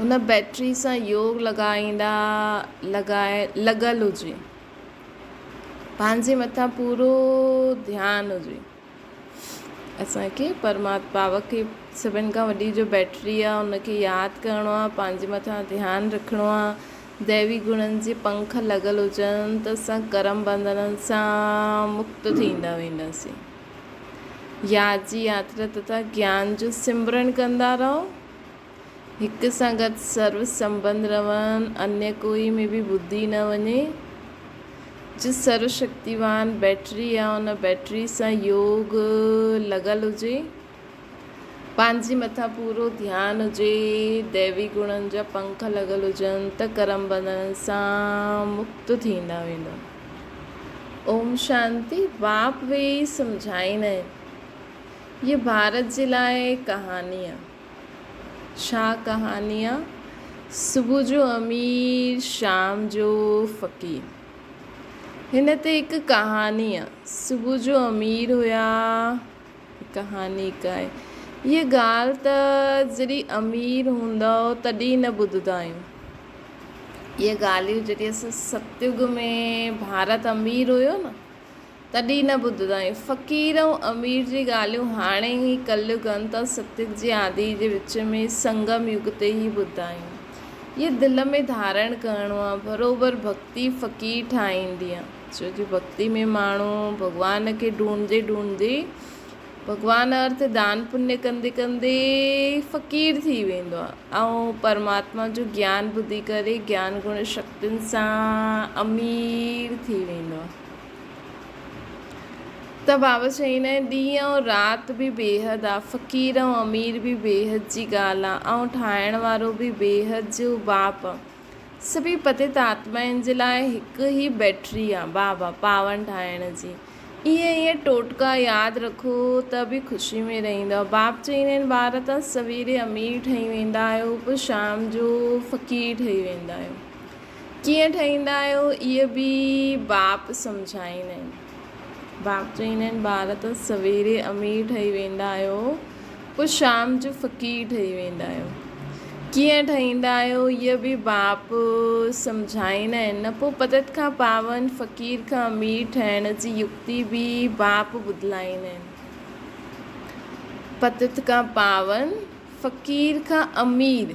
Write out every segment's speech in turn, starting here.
هن بيٽري سان يوگ لڳائيندا لڳائي لڳل هجي پنهنجي مٿان پورو ڌيان هجي اسانکي پرمات پاوڪ کي سڀن کان وڏي جو بيٽري آ ان کي ياد ڪرڻو آ پنهنجي مٿان ڌيان رکڻو آ ديوي گڻن جي پنک لڳل هجن ته اسان ڪرم بنڌنن سان مڪت ٿيندا وينداسين يار جي ياترا تٿا گيان جو سمرڻ ڪندا رهو. هڪ سان گڏ سرو سنبند رهن، انيء ڪوئي ۾ به ٻڌي نه وڃي. جو سرو شڪتيوان بيٽري آ، ان بيٽري سان يوگ لڳل هجي. پنهنجي مٿان پورو ڌيان هجي، ديوي گڻن جا پنک لڳل هجن ته ڪرم بنڌڻ سان مڪت ٿيندا ويندا. اوم شانتي واپ ويهي سمجهائين ۽ هيء ڀارت جي لاء ڪهاڻي آ. ڇا ڪهاڻي آ؟ صبح جو امير شام جو فقير. هن تي هڪ ڪهاڻي آ. صبح جو امير هيا. ڪهاڻي ڪائي هيء ڳالهه ته جڏهن امير هوندؤ تڏهن نه ٻڌندا آهيون. اهي ڳالهيون جڏهن اسان ستيوڳ ۾ ڀارت امير هيو نه تڏهن نه ٻڌندا آهيون. فقير ۽ امير جي ڳالهيون هاڻي هي ڪليوڳ انت ۽ ستيوڳ جي آدي جي وچ ۾ سنگم يگ تي ئي ٻڌندا آهيون. اهي دل ۾ ڌارڻ ڪرڻو آهي. بروبر ڀڳتي فقير ٺاهيندينء. ڇو جو ڀڳتي ۾ ماڻهو ڀڳوان کي ڍونڍندي ڍونڍندي ڀڳوان ارٿ دان پڃ ڪندي ڪندي فقير ٿي ويندو آهي ۽ پرماتما جو گيان ٻڌي ڪري گيان گڻ شڪتين سان امير ٿي ويندو آهي ته بابا چئين آهي ڏينهن ۽ رات به بيحد آهي فقير ۽ امير به بيحد جي ڳالهه آهي ۽ ٺاهڻ وارو به بيحد جو باپ آهي سڀيئي پتيت آتمائن جي لاء هڪ ئي بيٽري آ بابا پاون ٺاهڻ جي اهي اهي ٽوٽڪا ياد رکو ته به خوشي ۾ رهندؤ باب چئيندا آهن ٻار ته سويري امير ٺهي ويندا آهيو پوء شام جو فقير ٺهي ويندا آهيو ڪيئن ٺهيندا آهيو اهي به باب سمجهائيندا آهن. باپ چويندا آهن ٻار ته سويري امير ٺهي ويندا آهيو پوء شام جو فقير ٺهي ويندا آهيو ڪيئن ٺهيندا آهيو هيء به باپ سمجهائيندا آهن نه پوء پدت کان پاون فقير کان امير ٺهڻ جي يڪتي به باپ ٻڌلائيندا آهن پدت کان پاون فقير کان امير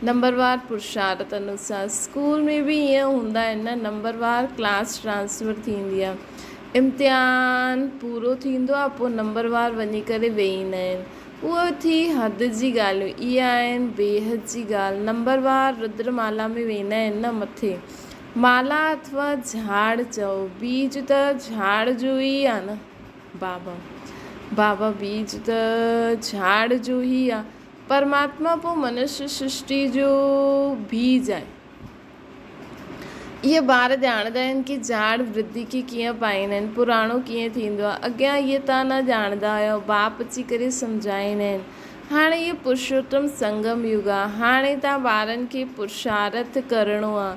نمبروار پرشارت انوسار اسڪول ۾ به ائين هوندا آهن نه نمبروار ڪلاس ٽرانسفر ٿيندي آهي امتحان پورو ٿيندو آهي پوء نمبروار وڃي ڪري ويهيندا آهن اهو ٿي حد جي ڳالهيون اهي آهن بيحد جي ڳالهه نمبروار ردر مالا ۾ ويندا آهن نه مٿي مالا اٿو جهاڙ چئو بيج ته جهاڙ جو ئي آهي نه بابا بابا بيج ته جهاڙ جو ئي آهي پرماتما پوء منشي سرشٽيء جو بيج آهي. اهي ٻار ڄاڻندا آهن ڪي جاڙ برڌي کي ڪيئن پائين آهن، پراڻو ڪيئن ٿيندو آهي. اڳيان اهي ته نه ڄاڻندا هيا، باپ اچي ڪري سمجهائين آهن. هاڻي اهو پرشوتم سنگم يگ آهي. هاڻي تان ٻارن کي پرشارٿ ڪرڻو آهي.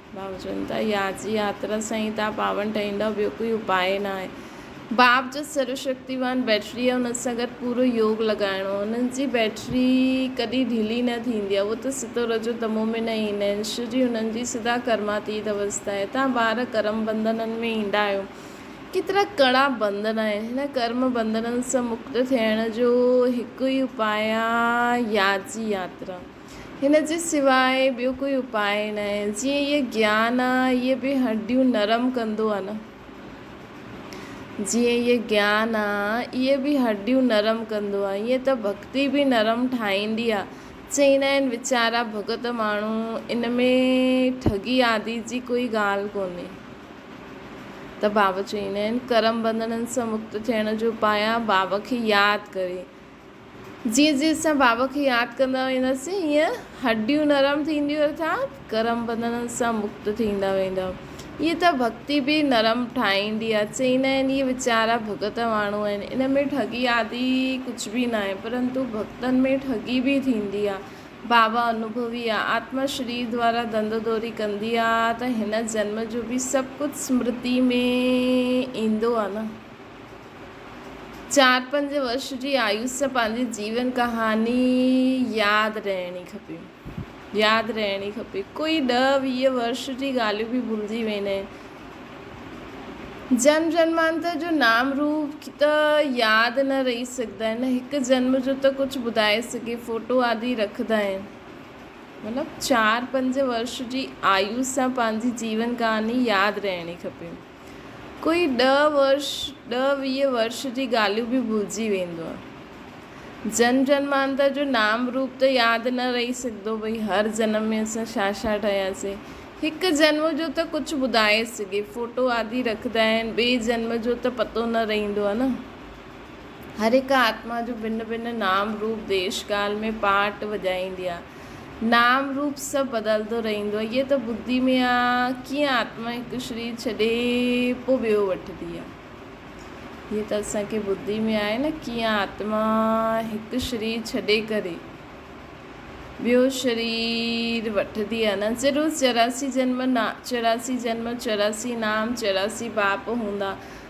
باب چون ٿا يار جي ياترا سائين تان پاون ٺهيندا ٻيو ڪوئي اپاء ناهي. باب جو سر شڪتيوان بيٽري آهي ان سان گڏ پورو يوگ لڳائڻو آهي انهن جي بيٽري ڪڏهن ڍلي نه ٿيندي آهي اهو ته ستو رجو تمو ۾ نه ايندا آهن شو جي انهن جي سدا ڪرما تيت اوستا آهي توهان ٻار ڪرم بنڌنن ۾ ايندا آهيو ڪيترا ڪڙا بنڌن آهن هن ڪرم بنڌنن سان مڪت ٿيڻ جو هڪ ئي اپاء آهي يار جي ياترا. هن جي سواء ٻيو ڪوئي اپاء ناهي. جيئن هيء گيان آ، هيء به هڏيون نرم ڪندو آ نه. جيئن هيء گيان آ، هيء به هڏيون نرم ڪندو آ. ائين ته ڀڳتي به نرم ٺاهيندي آ. چئيندا آهن ويچارا ڀڳت ماڻهو، ان ۾ ٺڳي آدي جي ڪوئي ڳالهه ڪونهي. ته بابا چئيندا آهن، ڪرم ٻنڌڻن سان مڪت ٿيڻ جو اپاء آ، بابا کي ياد ڪري. جيئن جيئن اسان بابا کي ياد ڪندا وينداسين هيئن هڏيون نرم ٿينديون ارٿات گرم بنڌنن سان مڪت ٿيندا ويندا. هيئن ته ڀڳتي به نرم ٺاهيندي آهي. چئيندا آهن اهي ويچارا ڀڳت ماڻهو آهن ان ۾ ٺڳي آدي ڪجهه به ناهي پرنتو ڀڳتن ۾ ٺڳي به ٿيندي آهي. بابا انوڀوي آهي. آتما شرير دوارا ڌنڌو دوري ڪندي آهي ته هن جنم جو به سڀ ڪجهه سمرتي ۾ ايندو آهي نه. چار پنج ورش جي آيوس سان پنهنجي جيون ڪهاڻي ياد رهڻي کپي ياد رهڻي کپي ڪوئي ڏهه ويهه ورش جي ڳالهيون به ڀلجي ويندين جنم جنمانتر جو نام روپ ته ياد نه رهي سگهندا آهن هڪ جنم جو ته ڪجهه ٻڌائي سگهي فوٽو آدي رکندا آهن مطلب چار پنج ورش جي آيوس سان پنهنجي جيون ڪهاڻي ياد رهڻي کپي ڪوئي ڏهه ورش ڏهه ويهه ورش جي ڳالهيون به ڀلجي ويندو. جن جنمانتر جو نام روپ ته ياد نه رهي سگهندو ڀئي هر جنم ۾ اسان ڇا ڇا ٺهياسين. هڪ جنم جو ته ڪجهه ٻڌائي سگهي فوٽو آدي رکندا آهن ٻئي جنم جو ته پتو نه رهندو آهي نه. هر هڪ آتما جو ڀن ڀن نام روپ ديش ڪال ۾ پاٽ وڄائيندي آهي. نام روپ سڀ بدلندو رهندو آهي. هيء ته ٻڌي ۾ آ، ڪيئن آتما هڪ شرير ڇڏي پوء ٻيو وٺندي آ. هيء ته اسان کي ٻڌي ۾ آهي نه، ڪيئن آتما هڪ شرير ڇڏي ڪري ٻيو شرير وٺندي آ. ننس جي روز چوراسي جنم، چوراسي جنم، چوراسي نام، چوراسي باپ هوندا.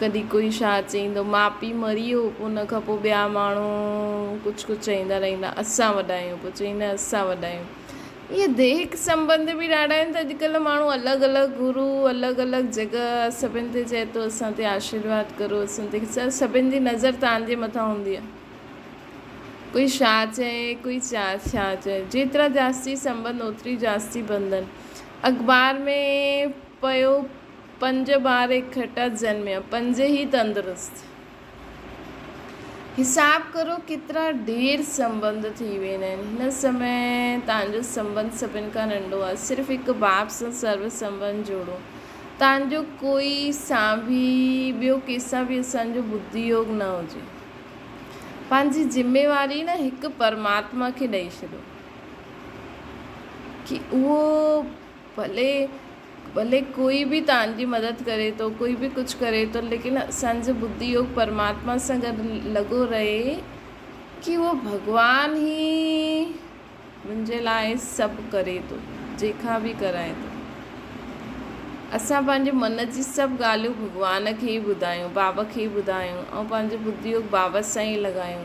ڪڏهن ڪوئي ڇا چئيندو، ماء پيء مري ويو پوء ان کان پوء ٻيا ماڻهو ڪجهه ڪجهه چئيندا رهندا، اسان وڏا آهيون پوء چئيندا اسان وڏا آهيون. ائين ديهڪ سنٻنڌ به ڏاڍا آهن ته اڄڪلهه ماڻهو الڳ الڳ گرو الڳ الڳ جڳهه سڀن تي چئي ٿو اسان تي آشيرواد ڪرو اسان تي سر سڀن جي نظر تان جي مٿان هوندي آهي ڪوئي ڇا چئي ڪوئي چا ڇا چئي جيترا جاستي سنٻنڌ اوتري جاستي بنڌن اخبار ۾ پيو پنج ٻار اڪھٺا جنميا، پنج ئي تندرست. حساب ڪرو ڪيترا ڍير سنٻنڌ ٿي ويندا آھن. ھن سمي تنھنجو سنٻنڌ سڀن کان ننڍو آھي. صرف ھڪ باپ سان سرو سنٻنڌ جوڙو. تنھنجو ڪوئي سانڀي. ٻيو ڪيسان به اسان جو ٻڌي يوگ نه ھجي. پنھنجي ذميواري نه ھڪ پرماتما کي ڏئي ڇڏيو. ڪي اھو ڀلي ڀلي ڪوئي به تان جي مدد ڪري ٿو ڪوئي به ڪجھ ڪري ٿو ليڪن اسان جو بدي يوگ پرماتما سان گڏ لڳو رهي ڪي اهو ڀڳوان هي منهنجي لاء سڀ ڪري ٿو جنهن کان به ڪرائي ٿو اسان پنهنجي من جي سڀ ڳالهيون ڀڳوان کي ئي ٻڌايون بابا کي ئي ٻڌايون ۽ پنهنجو بدي يوگ بابا سان ئي لڳايون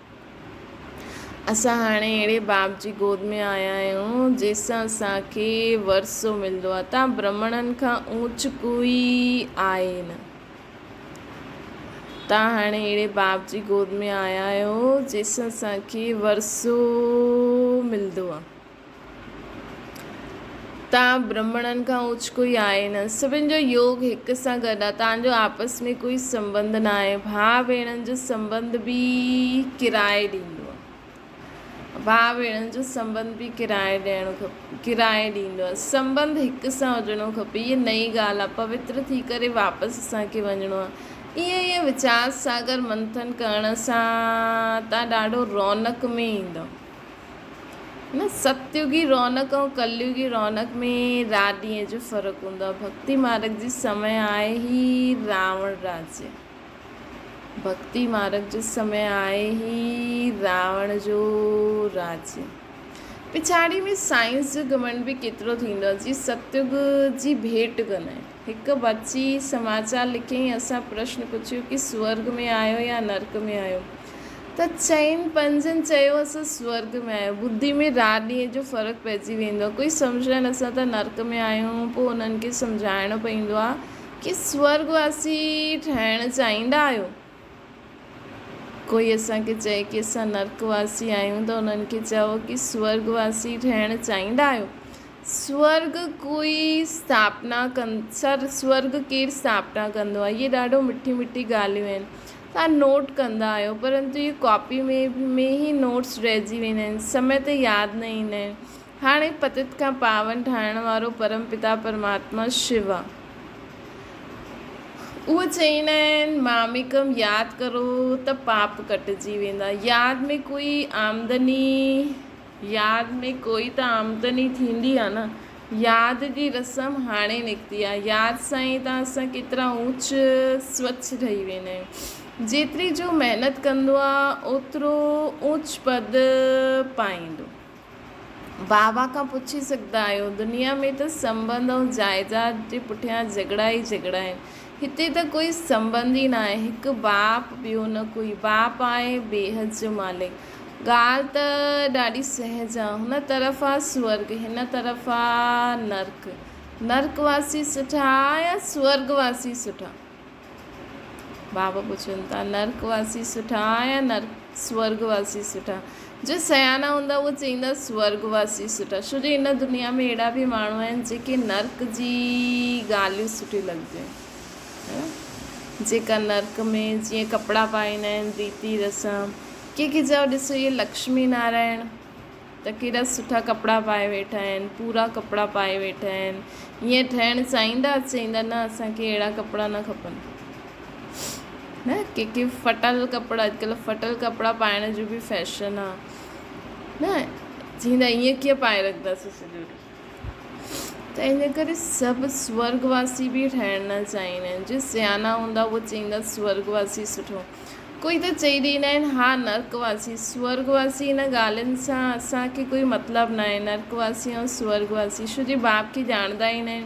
اسان هاڻي اهڙي باب جي گود ۾ آيا آهيون، جنهن سان اسان کي ورثو ملندو آهي. توهان برهمڻن کان اوچ ڪوئي آهي ئي نه. توهان هاڻي اهڙي باب جي گود ۾ آيا آهيو، جنهن سان اسان کي ورثو ملندو آهي. تان برهمڻن کان اوچ ڪوئي آهي نه. سڀن جو يوگ هڪ سان گڏ آهي. تان جو آپس ۾ ڪوئي سنٻنڌ نه آهي. ڀاء ڀيڻن جو سنٻنڌ به ڪرائي ڏيندو آهي. ڀاء ڀيڻن جو سنٻنڌ به ڪرائي ڏيڻو کپي. ڪرائي ڏيندو آهي. سنٻنڌ هڪ سان هجڻو کپي. هيء نئين ڳالهه آهي. پوتر ٿي ڪري واپس اسان کي وڃڻو آهي. ائين ائين ويچار ساگر منٿن ڪرڻ سان تان ڏاڍو رونق ۾ ايندؤ. نه ستيوگي رونق ۽ ڪليوگي رونق ۾ رات ڏينهن جو فرق هوندو آهي. ڀڳتي مارگ جي سمي آهي هي راوڻ راجي. ڀڳتي مارگ جو سمي آهي هي راوڻ جو راجي. پڇاڙي ۾ سائنس جو گهمنڊ به ڪيترو ٿيندو آهي جي ستيوگ جي ڀيٽ ڪندو آهي. هڪ بچي سماچار لکيائين، اسان پرشن پڇيو ڪي سورگ ۾ آهيو يا نرڪ ۾ آهيو؟ ته چئن پنجن چيو اسان سورگ ۾ آهيون. ٻڌي ۾ رات ڏينهن جو فرق پئجي ويندو آهي. ڪوئي سمجهائين اسان ته نرڪ ۾ آهيون. پوء انهن کي سمجهائڻو پوندو آهي ڪي سورگ واسي ٺهڻ چاهيندا آهيو؟ ڪوئي اسان کي چئي ڪي اسان نرڪ واسي آهيون ته انهن کي چئو ڪي سورڳ واسي ٺهڻ چاهيندا آهيو؟ سورڳ ڪوئي اسٿاپنا ڪن سر سورڳ ڪير اسٿاپنا ڪندو آهي؟ اهي ڏاڍو مٺي مٺي ڳالهيون آهن توهان نوٽ ڪندا آهيو پرنتو اهي ڪاپي ۾ ۾ ئي نوٽس رهجي ويندا آهن سمي تي ياد نه ايندا آهن. هاڻي پتت کان پاون ٺاهڻ وارو پرم پتا پرماتما شو آ. اهو چئيندا آهن ماميڪم ياد ڪرو ته پاپ ڪٽجي ويندا. ياد ۾ ڪوئي آمدني ياد ۾ ڪوئي ته آمدني ٿيندي آ نه. ياد جي رسم هاڻي نڪتي آ. ياد سان ئي ته اسان ڪيترا اوچ سوچ ٺهي ويندا آهيون. جيتري جو محنت ڪندو آ اوترو اوچ پد پائيندو. بابا کان پڇي سگهندا آهيو. دنيا ۾ ته سنبنڌ ۽ جائيداد جي پٺيان جهڳڙا ئي جهڳڙا آهن. هتي ته ڪوئي سنبنڌ ئي ناهي. هڪ باپ ٻيو نه ڪوئي. باپ آهي بيهد جو مالڪ. ڳالهه ته ڏاڍي سهج آ. هن طرف آ سورڳ هن طرف آ نرڪ. نرڪ واسي سٺا يا سورڳ واسي سٺا؟ بابا پڇن ٿا نرڪ واسي سٺا يا نرڪ سورگ واسي سٺا جو سيانا هوندا اهي چئيندا سورگ واسي سٺا ڇو جو ان دنيا ۾ اهڙا به ماڻهو آهن جيڪي نرڪ جي ڳالهيون سٺي لڳنديون آهن جيڪا نرڪ ۾ جيئن ڪپڙا پائيندا آهن ريتي رسم ڪي ڪي چاهو ڏسو اهي لڪشمي نارائڻ ته ڪهڙا سٺا ڪپڙا پائي ويٺا آهن پورا ڪپڙا پائي ويٺا آهن ائين ٺهڻ چاهيندا چئيندا نه اسان کي اهڙا ڪپڙا نه کپن نه ڪي ڪي ڦٽل ڪپڙا اڄڪلهه ڦٽل ڪپڙا پائڻ جو بي فيشن آ نه چيندا ائين ڪيئن پائي رکنداسين سڄو ڏينهن ته ان ڪري سڀ سورڳ واسي به ٺهڻ نه چاهيندا آهن جي سيانا هوندا اهي چيندا سورڳ واسي سٺو ڪوئي ته چئي ڏيندا آهن ها نرڪ واسي سورڳ واسي ان ڳالهين سان اسان کي ڪوئي مطلب نه آهي نرڪ واسي ۽ سورڳ واسي شو جي باب کي ڄاڻندا ئي نه آهن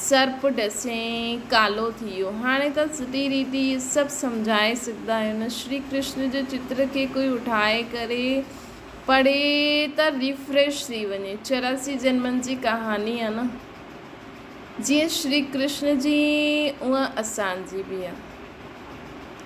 سرپ ڏسين ڪالو ٿي ويو. هاڻي ته سڌي ريت ئي اهي سڀ سمجهائي سگهندا آهيون. شري ڪرشن جي چتر کي ڪوئي اٺائي ڪري پڙهي ته ريفريش ٿي وڃي. چوراسي جنمن جي ڪهاڻي آهي نه. جيئن شري ڪرشن جي اونء اسان جي به آهي.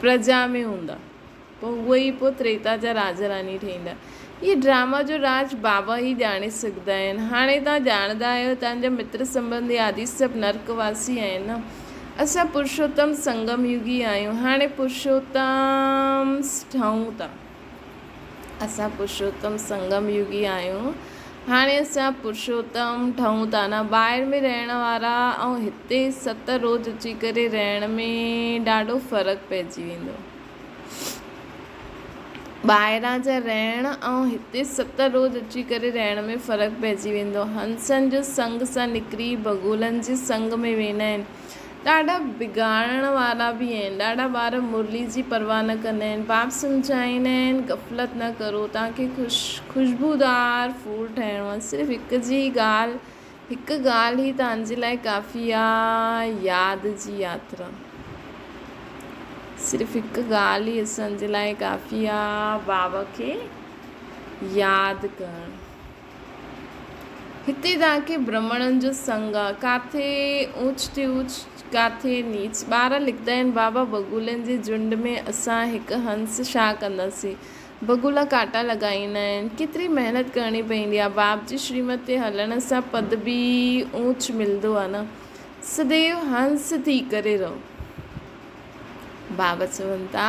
پرجا ۾ هوندا، پوء هو ئي پوء تريتا جا راجا راڻي ٺهيندا. هيء ڊرامه جو راز بابا ئي ڄاڻي سگهندا آهن. هاڻي توهان ڄاڻندا آهيو، توهان جا متر سنٻنڌي آدي سڀ نرڪ واسي آهن نه؟ اسان پرشوتم سنگم يوگي آهيون. هاڻي پرشوتمس ٺهون ٿا. اسان پرشوتم سنگم يوگي آهيون. هاڻي اسان پرشوتم ٺهون ٿا نه ٻاهر ۾ رهڻ وارا ۽ هتي ست روز اچي ڪري رهڻ ۾ ڏاڍو فرق پئجي ويندو. ٻاهران جا رهڻ ۽ هتي ست روز اچي ڪري رهڻ ۾ فرق پئجي ويندو. هنسن جو سنگ سان نڪري بگولن جي سنگ ۾ ويندا آهن. ڏاڍا بگاڙڻ وارا به آهن. ڏاڍا ٻار مرلي جي پرواهه نه ڪندا آهن. باب سمجهائيندا آهن، غفلت نه ڪرو، توهان کي خوشبودار ڦول ٺهڻو آهي. صرف هڪ جي ڳالهه، هڪ ڳالهه ئي توهان جي لاء ڪافي آهي، ياد جي ياترا. صرف هڪ ڳالهه ئي اسان جي لاء ڪافي آهي، باب کي ياد ڪرڻ. هتي جا ڪي برهمڻن جو سنگ، ڪاٿي اوچتي اوچ ڪاٿي نيچ، ٻار لکندا آهن، بابا بگولن جي جهنڊ ۾ اسان هڪ هنس شاهه ڪنداسين. بگولا ڪاٽا لڳائيندا آهن. ڪيتري محنت ڪرڻي پوندي آهي. باب جي شريمت تي هلڻ سان پد به اوچ ملندو آهي نه. سديو هنس ٿي ڪري رهو. باب چون ٿا.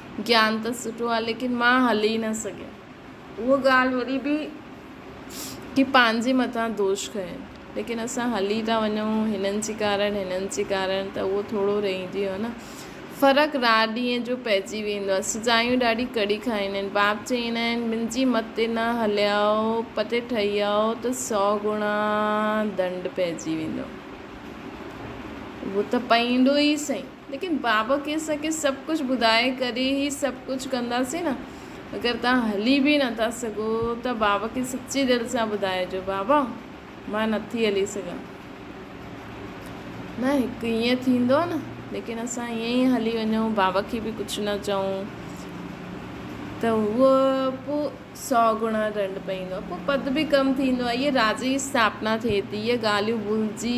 گيان ته سٺو آ ليڪن مان هلي نه سگهيم. اها ڳالهه وري به ڪي پنهنجي مٿان دوش کنين ليڪن اسان هلي ٿا وڃون هنن جي ڪارڻ هنن جي ڪارڻ ته اهو ٿورو رهجي ويو نه. فرق رات ڏينهن جو پئجي ويندو آ. سزايون ڏاڍي ڪڙي کائيندا آهن. باب چئيندا آهن منهنجي مت تي نه هليائو پتي ٺهيائو ته سئو گڻا ڏنڊ پئجي ويندو. اهو ته پئيندو ئي سهي. ليڪن بابا ڪي اسان کي سڀ ڪجھ ٻڌائي ڪري هي سڀ ڪجھ ڪنداسين نه اگر توهان هلي به نه ٿا سگهو ته بابا کي سچي دل سان ٻڌائجو بابا مان نه ٿي هلي سگهان نه هڪ ايئن ٿيندو نه ليڪن اسان ايئن ئي هلي وڃون بابا کي به ڪجھ نه چئون ته هو پو سو گنا ڏنڊ پئيندو پو پد به ڪم ٿيندو اهي راز جي اسٿاپنا ٿئي ٿي اهي ڳالهيون ڀلجي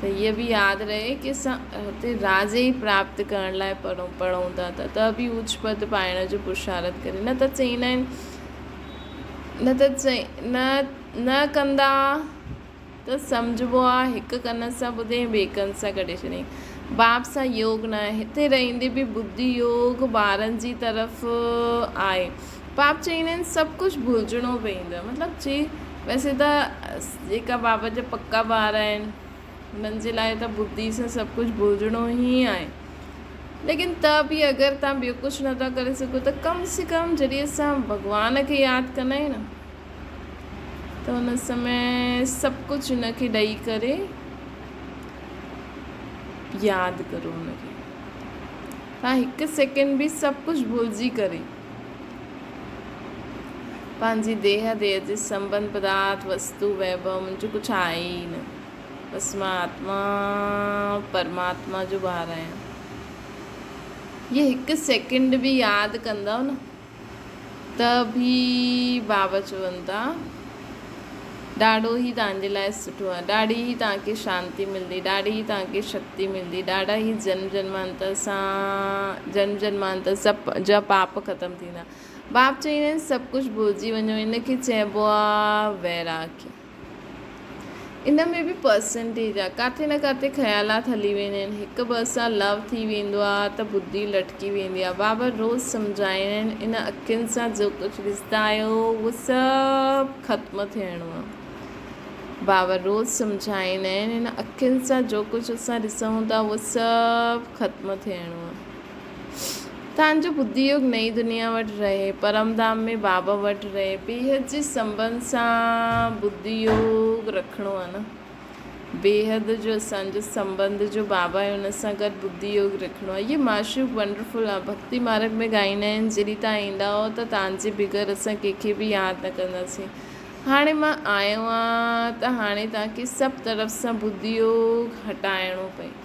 ته هيء به ياد رهي ڪي اسان هتي راجي ئي پراپت ڪرڻ لاء پڙهون ٿا ته ته به اوچ پد پائڻ جو پرشارت ڪري نه ته چئيندا آهن نه ته چئي نه نه ڪندا ته سمجهبو آ هڪ ڪن سان ٻڌي ۽ ٻئي ڪن سان ڪڍي ڇڏين باب سان يوگ ناهي هتي رهندي به ٻڌي يوگ ٻارن جي طرف آهي باب چئين ھين سڀ ڪجھ ڀلجڻو پوندو مطلب جي ويسي ته جيڪا باب جا پڪا ٻار آھن انھن جي لاء ته ٻڌي سان سڀ ڪجھ ڀلجڻو ھي آھي ليڪن ته به اگر تھان ٻيو ڪجھ نه ٿا ڪري سگھو ته ڪم سي ڪم جڏھن اسان ڀڳوان کي ياد ڪندا آھيون نه ته ان سمي سڀ ڪجھ ان کي ڏئي ڪري ياد ڪرو ان کي تھان ھڪ سيڪنڊ به سڀ ڪجھ ڀلجي ڪري پنهنجي ديهه ديهه جي سنبند پدارٿ وستو ويڀو منهنجو ڪجهه آهي ئي نه. بس مان آتما پرماتما جو ٻار آهيان. هيء هڪ سيڪنڊ به ياد ڪندؤ نه ته به بابا چوندا ڏاڙهو هي توهان جي لاء سٺو آهي. ڏاڙهي هي توهان کي شانتي ملندي. ڏاڙهي هي توهان کي شڪتي ملندي. ڏاڙهي هي جنم جنمانتر سان جنم جنمانتر سڀ جا پاپ ختم ٿيندا. باب چئيندا آهن سڀ ڪجهه ڀلجي وڃو ان کي چئبو آهي ويراڳ. ان ۾ به پرسنٽيج آ. ڪاٿي نه ڪاٿي خيالات هلي ويندا آهن. هڪ ٻئي سان لو ٿي ويندو آ ته بدي لٽڪي ويندي آ. بابا روز سمجهائين آهن ان اکين سان جو ڪجهه ڏسندا آهيو اهو سڀ ختم ٿيڻو آ. بابا روز سمجهائين آهن ان اکين سان جو ڪجهه اسان ڏسون ٿا اهو سڀ ختم ٿيڻو آ. تنهنجو ٻڌي يوگ نئين دنيا وٽ رهي، پرمڌام ۾ بابا وٽ رهي، بيحد جي سنبنڌ سان ٻڌي يوگ رکڻو آهي نه. بيحد جو اسان جو سنبنڌ جو بابا آهي ان سان گڏ ٻڌي يوگ رکڻو آهي. هيء معشوق ونڊرفل آهي. ڀڳتي مارگ ۾ ڳائيندا آهن، جڏهن توهان ايندا هئو ته توهان جي بغير اسان ڪنهن کي به ياد نه ڪنداسين. هاڻي مان آيو آهيان ته هاڻي توهان کي سڀ طرف سان ٻڌي يوگ هٽائڻو پئي.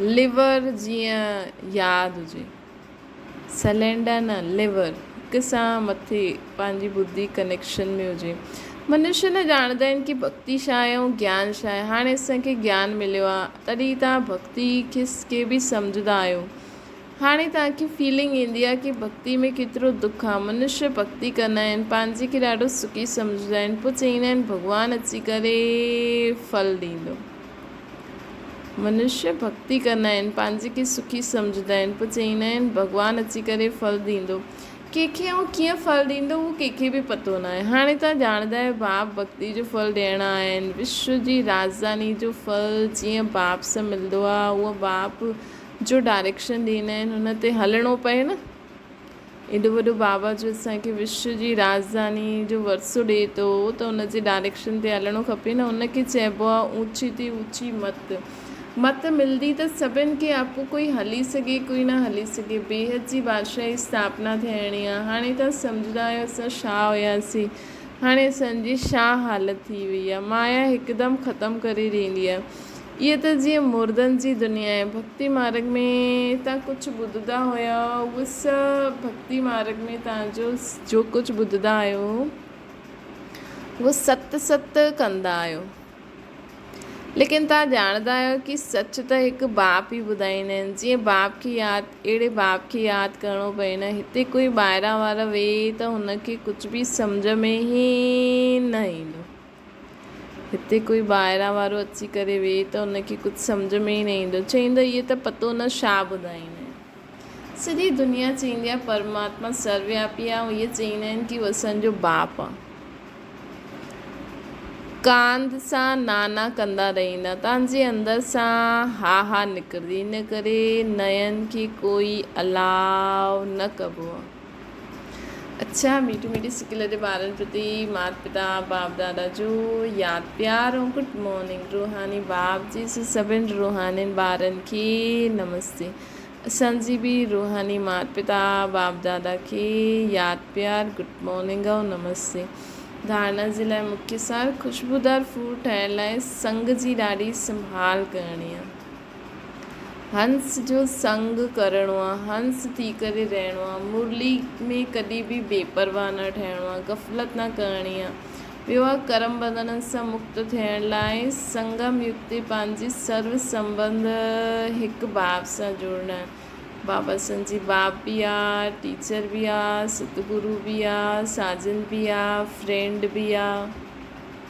ليور جيئن ياد هجي. سلينڊر نه ليور هڪ سان مٿي پنهنجي ٻڌي ڪنيڪشن ۾ هجي. منشي نه ڄاڻندا آهن ڪي ڀڳتي ڇا آهي ۽ گيان ڇا آهي. هاڻي اسان کي گيان مليو آهي تڏهن توهان ڀڳتي کي به سمجهندا آهيو. هاڻي توهان کي فيلنگ ايندي آهي ڪي ڀڳتي ۾ ڪيترو دک آهي. منشي ڀڳتي ڪندا آهن پنهنجي کي ڏاڍو سکي سمجهندا آهن پوء چئيندا آهن ڀڳوان اچي ڪري ڦل ڏيندو. منشيٰ ڀڳتي ڪندا آهن، پنهنجي کي سکي سمجهندا آهن، پوء چئيندا آهن، ڀڳوان اچي ڪري ڦل ڏيندو. ڪنهن کي ۽ ڪيئن ڦل ڏيندو، اهو ڪنهن کي به پتو ناهي. هاڻي توهان ڄاڻندا آهيو، باپ ڀڳتي جو ڦل ڏيڻا آهن. وشو جي راجڌاني جو ڦل جيئن باپ سان ملندو آهي، هونئن باپ جو ڊائريڪشن ڏيندا آهن، هن تي هلڻو پئي نه! ايڏو وڏو بابا جو اسان کي وشو جي راڄڌاني جو ورثو ڏئي ٿو ته ان جي ڊائريڪشن تي هلڻو کپي نه. ان کي چئبو آهي اوچي تي اوچي مت. مت ملندي ته سڀن کي اپو ڪوئي هلي سگهي ڪوئي نه هلي سگهي. بيهت جي بادشاهي جي استاپنا ٿيڻي آهي. هاڻي توهان سمجهندا آهيو اسان شاهه هياسين. هاڻي اسان جي شاهه حالت ٿي وئي آهي. مايا هڪدم ختم ڪري ڏيندي آهي. اهي ته جيئن مردن جي دنيا ۽ ڀڳتي مارڳ ۾ تان ڪجهه ٻڌدا هيا، اهو سڀ ڀڳتي مارڳ ۾ تان جو جو ڪجهه ٻڌدا آهيو، اهو ست ست ڪندا آهيو. ليڪن تان ڄاڻدا آهيو ڪي سچ ته هڪ باپ ئي ٻڌائيندا آهن. جيئن باپ کي ياد، اهڙي باپ کي ياد ڪرڻو پئي نه. هتي ڪوئي ٻاهران وارو ويهي ته هن کي ڪجهه به سمجهه ۾ ئي نه ايندو. هتي ڪوئي ٻاهران وارو اچي ڪري ويهي ته هن کي ڪجهه سمجهه ۾ ئي نه ايندو، چئيندو اهي ته پتو نه ڇا ٻڌائين. سڄي دنيا چئيندي آهي پرماتما سروياپي آهي ۽ اهي چئيندا آهن ڪي هو اسان جو باپ آهي. ڪانڌ سان نا نا ڪندا رهيندا، تان جي اندر سان ها ها نڪرجي، ان ڪري نئين کي ڪوئي الاء نه ڪبو آهي. اڇا ميٺي ميٺي سڪل جي ٻارن پرتي مات پتا باپ دادا جو ياد پيار ۽ گڊ مارننگ روحاني باپ جي سڀن روحانين ٻارن کي نمستي اسان جي به روحاني مات پتا باپ دادا کي ياد پيار گڊ مارننگ ۽ نمستي ڌارڻا جي لاء مکي سار خوشبودار فوڊ ٺاهڻ لاء سنگ جي ڏاڍي سنڀال ڪرڻي آهي هنس جو سنگ ڪرڻو آ، هنس ٿي ڪري رهڻو آ، مرلي ۾ ڪڏهن به بي پرواهه نه ٺهڻو آ، غفلت نه ڪرڻي آ. ٻيو آ ڪرم ٻنڌڻن سان مڪت ٿيڻ لاء سنگم يڪتي پنهنجي سرو سنبنڌ هڪ باب سان جڙڻ. بابا سنجي باب به آ، ٽيچر به آ، ستگرو به آ، ساجن به آ، فرينڊ به آ.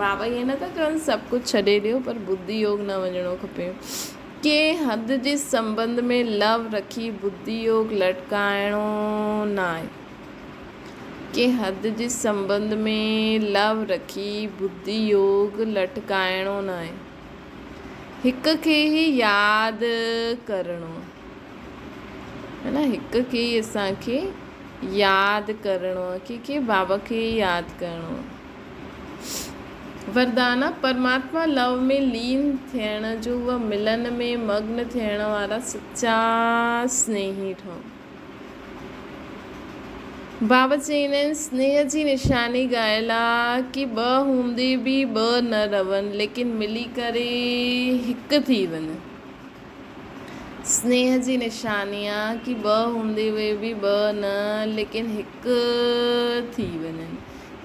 بابا ائين نه ٿا ڪرن سڀ ڪجهه ڇڏي ڏيو پر بدي يوگ نه وڃڻو کپي ڪنهن حد جي سنبنڌ ۾ لو رکي بدي يوگ لٽڪائڻو ناهي ڪنهن حد جي سنبنڌ ۾ لو رکي بدي يوگ لٽڪائڻو ناهي هڪ کي هي ياد ڪرڻو هن هڪ کي اسان کي ياد ڪرڻو ڪي کي بابا کي ياد ڪرڻو وردانه، پرماتما لئو ۾ لين ٿيڻ جو و ملن ۾ مگن ٿيڻ وارا سچا سنيهي ٺهو. بابت جي هن سنيهه جي نشاني ڳايل آ ڪي ٻه هوندي به ٻه نه رون ليڪن ملي ڪري هڪ ٿي وڃن. سنيهه جي نشاني آ ڪي ٻه هوندي هئي به ٻه نه ليڪن هڪ ٿي وڃن.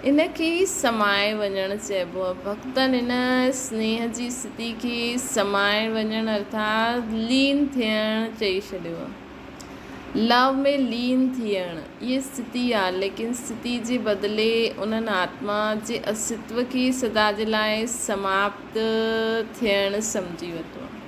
ان کي ئي سمائي وڃڻ چئبو آ. ڀڳتن ان سنيهه جي استٿي کي سمائي وڃڻ ارٿات لين ٿيڻ چئي ڇڏيو آ. Love ۾ لين ٿيڻ ئي استٿي آ ليڪن استٿي جي بدلي انهن آتما جي اسٿتو کي سدا جي لاء سماپت ٿيڻ سمجهي ورتو آ.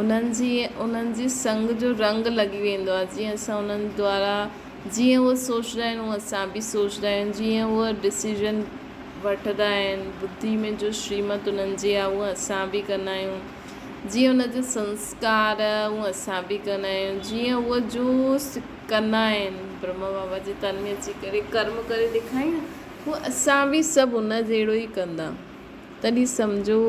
انهن جي انهن جي سنگ جو رنگ لڳي ويندو آهي جيئن اسان انهن دوارا جيئن هو سوچدا آهن هون اسان به سوچدا آهيون جيئن هو ڊسيزن وٺدا آهن بدي ۾ جو شريمت انهن جي آهي هون اسان به ڪندا آهيون جيئن انهن جي سنسڪار هون اسان به ڪندا آهيون جيئن هو جو ڪندا آهن برهما بابا جي تن ۾ اچي ڪري ڪرم ڪري ڏيکارين نه هو اسان به سڀ انهن جهڙو ئي ڪندا تڏهن سمجهو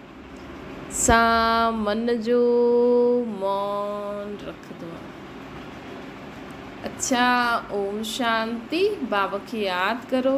سان من جو مون رکندو آهيان. اڇا اوم شانتي بابا کي ياد ڪرو